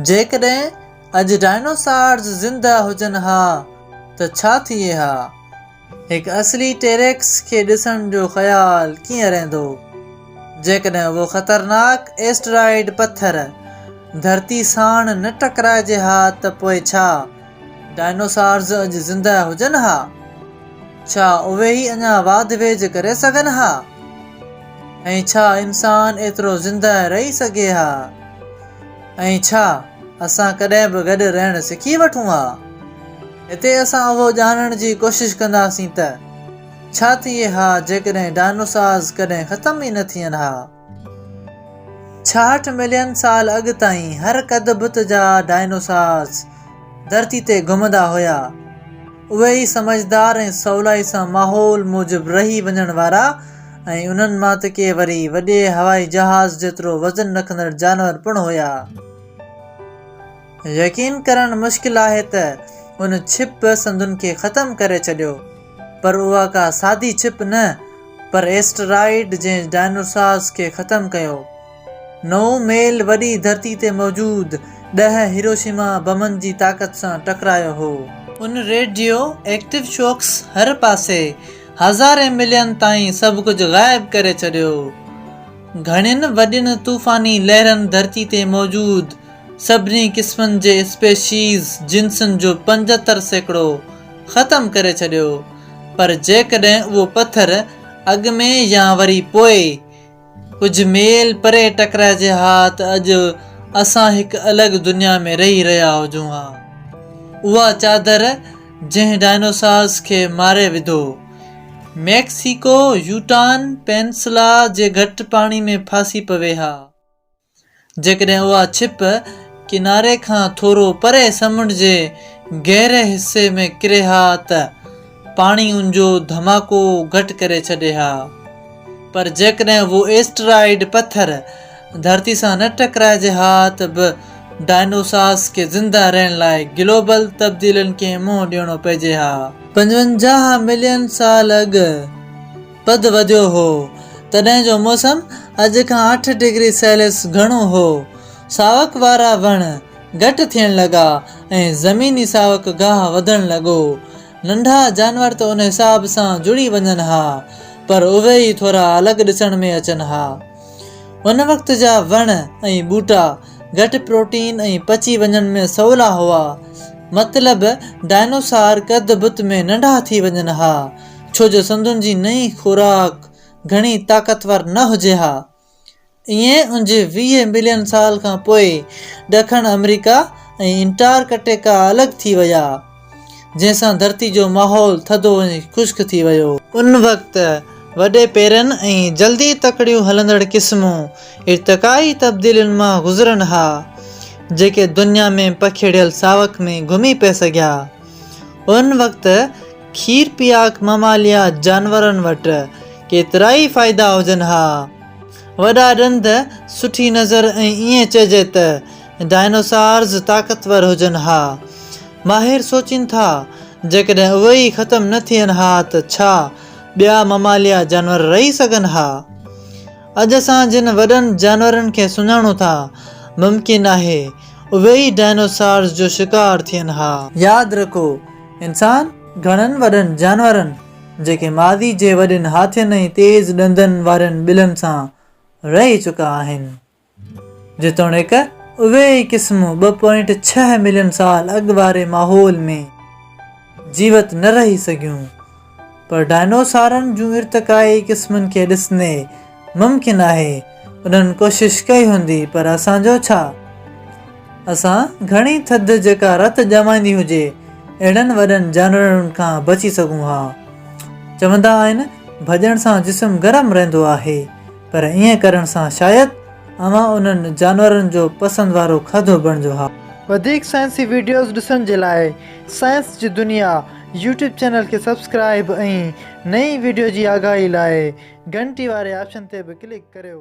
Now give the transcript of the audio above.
جيڪڏهن اڄ ڊائنوسارز زنده هجن ها ته ڇا ٿئي ها؟ هڪ اصلي ٽيريڪس کي ڏسڻ جو خيال ڪيئن رهندو جيڪڏهن اهو خطرناڪ ايسٽرائڊ پٿر ڌرتي ساڻ نه ٽڪرائجي ها ته پوء ڇا؟ ڊائنوسارز اڄ زندهه هجن ها، ڇا اهي ئي اڃا واڌ ويجهه ڪري سگهن ها؟ ۽ ڇا انسان ايترو زندهه رهي سگهي ها؟ ۽ ڇا اسان ڪڏهن به گڏ رهڻ سکي وٺون ها؟ هتي اسان اهو ڄاڻڻ جي ڪوشش ڪنداسين ته ڇا ٿئي ها جيڪڏهن ڊائنوسارز ڪڏهن ختم ئي نه ٿين ها؟ ڇاهٺ ملين سال اڳ تائين هر قد بت جا ڊائنوسارز ڌرتي تي گهمندا هيا. اهي ئي سمجهدار ۽ سولائي سان ماحول موجب رهي وڃڻ وارا ۽ انهن مان ته ڪي وري وڏي هوائي جهاز جيترو وزن رکندڙ جانور پڻ هيا. يقين ڪرڻ مشڪل آهي ته ان ڇپ سنڌن کي ختم ڪري ڇڏيو پر اها ڪا سادي ڇپ نه پر ايسٽرائيڊ جنهن ڊائنوسارز کي ختم ڪيو. نو ميل وڏي ڌرتي تي موجود ڏهه هيروشيما بمن جي طاقت سان ٽڪرايو هو. ان ريڊيو ايڪٽو شوڪس هر پاسي هزارين ملين تائين سڀ ڪجهه غائب ڪري ڇڏيو. گهڻين وڏين طوفاني لهرن ڌرتي تي موجود سڀني قسمن جي اسپيشيز، جنسن، جو پنجهتر سيڪڙو ختم ڪري ڇڏيو، پر جيڪڏهن اهو پٿر اڳ ۾ يا وري پوء ڪجهه ميل پري ٽڪرائجي ها ته اڄ اسان هڪ الڳ دنيا ۾ رهي رهيا هجون ها. اها چادر جنهن ڊائنوسارز کي ماري وڌو، ميڪسيڪو يوٽان پينسلا جي گهٽ پاڻي ۾ ڦاسي پوي ها. جيڪڏهن اها ڇپ ڪناري کان ٿورو پري سمنڊ جي گهري حصي ۾ ڪري ها ته پاڻي ان جو ڌماڪو گهٽ ڪري ڇڏي ها. پر جيڪڏهن اهو ايسٽرائڊ پٿر ڌرتي سان نه ٽڪرائجي ها ته به ڊائنوسارس کي زنده رهڻ لاء گلوبل تبديلين کي منهن ڏيڻو پئجي ها. پنجونجاهه ملين سال اڳ پد وڌيو هو، تڏهن جو موسم اڄ کان اٺ ڊگري سيليس گهڻو هو. ساوڪ وارا وڻ گهٽ ٿيڻ لڳا ۽ زميني ساوڪ گاهه وڌڻ لڳو. ننڍا جانور ته ان حساب سان جڙي وڃن ها، پر اهي ئي ٿورا الڳ ڏسڻ ۾ اچن ها. ان وقت جا وڻ ۽ ٻوٽا گهٽ پروٽين ۽ پچي وڃڻ ۾ سولا هئا. مطلب ڊائنوسار قد بت ۾ ننڍا ٿي وڃن ها. ڇو جو سنڌين جي نئين خوراڪ گهڻي طاقتور نه هجي ها. ايئن اڃ ويهه ملين سال کان پوء ڏکڻ آمريڪا ۽ انٽارڪٽيڪا الڳ ٿي ويا، جنهن سان ڌرتي جو ماحول ٿڌو ۽ خشڪ ٿي ويو. ان وقت وڏي پيرن ۽ جلدي تڪڙيون هلندڙ قسمون ارتقائي تبديلين مان گذرن ها، جيڪي دنيا ۾ پکيڙيل ساوڪ ۾ گهمي پئي سگهيا. ان وقت کير پياڪ مماليا جانورن وٽ ڪيترائي فائدا هجن ها. وڏا ڏند، سٺي نظر ۽ ائين چئجي ته ڊائنوسارز طاقتور هجن ها. ماهر سوچين ٿا جيڪڏهن اهي ئي ختم نه ٿين ها ته ڇا ٻيا مماليا جانور رهي سگهن ها؟ اڄ اسان جن وڏن جانورن کي سڃاڻون ٿا، ممڪن آهي اهي ئي ڊائنوسارز جو شڪار ٿين ها. ياد رکو انسان گهڻن وڏن جانورن، جيڪي ماضي جي وڏين هاٿين ۽ تيز ڏندن وارين ٻلن سان رهي چڪا آهن، جيتوڻيڪ اهي ئي قسمون ٻه پوائنٽ ڇهه ملين سال اڳ واري ماحول ۾ جيوت نه رهي سگهيون، پر ڊائنوسارن جون ارتقائي قسمن کي ڏسندي ممڪن آهي انهن ڪوشش ڪئي هوندي پر اسان جو ڇا؟ اسان گهڻي ٿڌ جيڪا رت ڄمائيندي هجي اهڙن وڏن جانورن کان بچي سگهون ها. چوندا آهن ڀڄڻ سان جسم گرم رهندو آهي. پر ائين ڪرڻ سان شايد اوهان انهن جانورن جو پسند وارو کاڌو بڻجو ها. وڌيڪ سائنسي وڊيوز ڏسڻ جي لاء سائنس جي دنيا يوٽيوب چينل کي سبسڪرائيب ۽ نئين وڊيو جي آگاهي لاء گهنٽي واري آپشن تي به ڪلڪ ڪريو.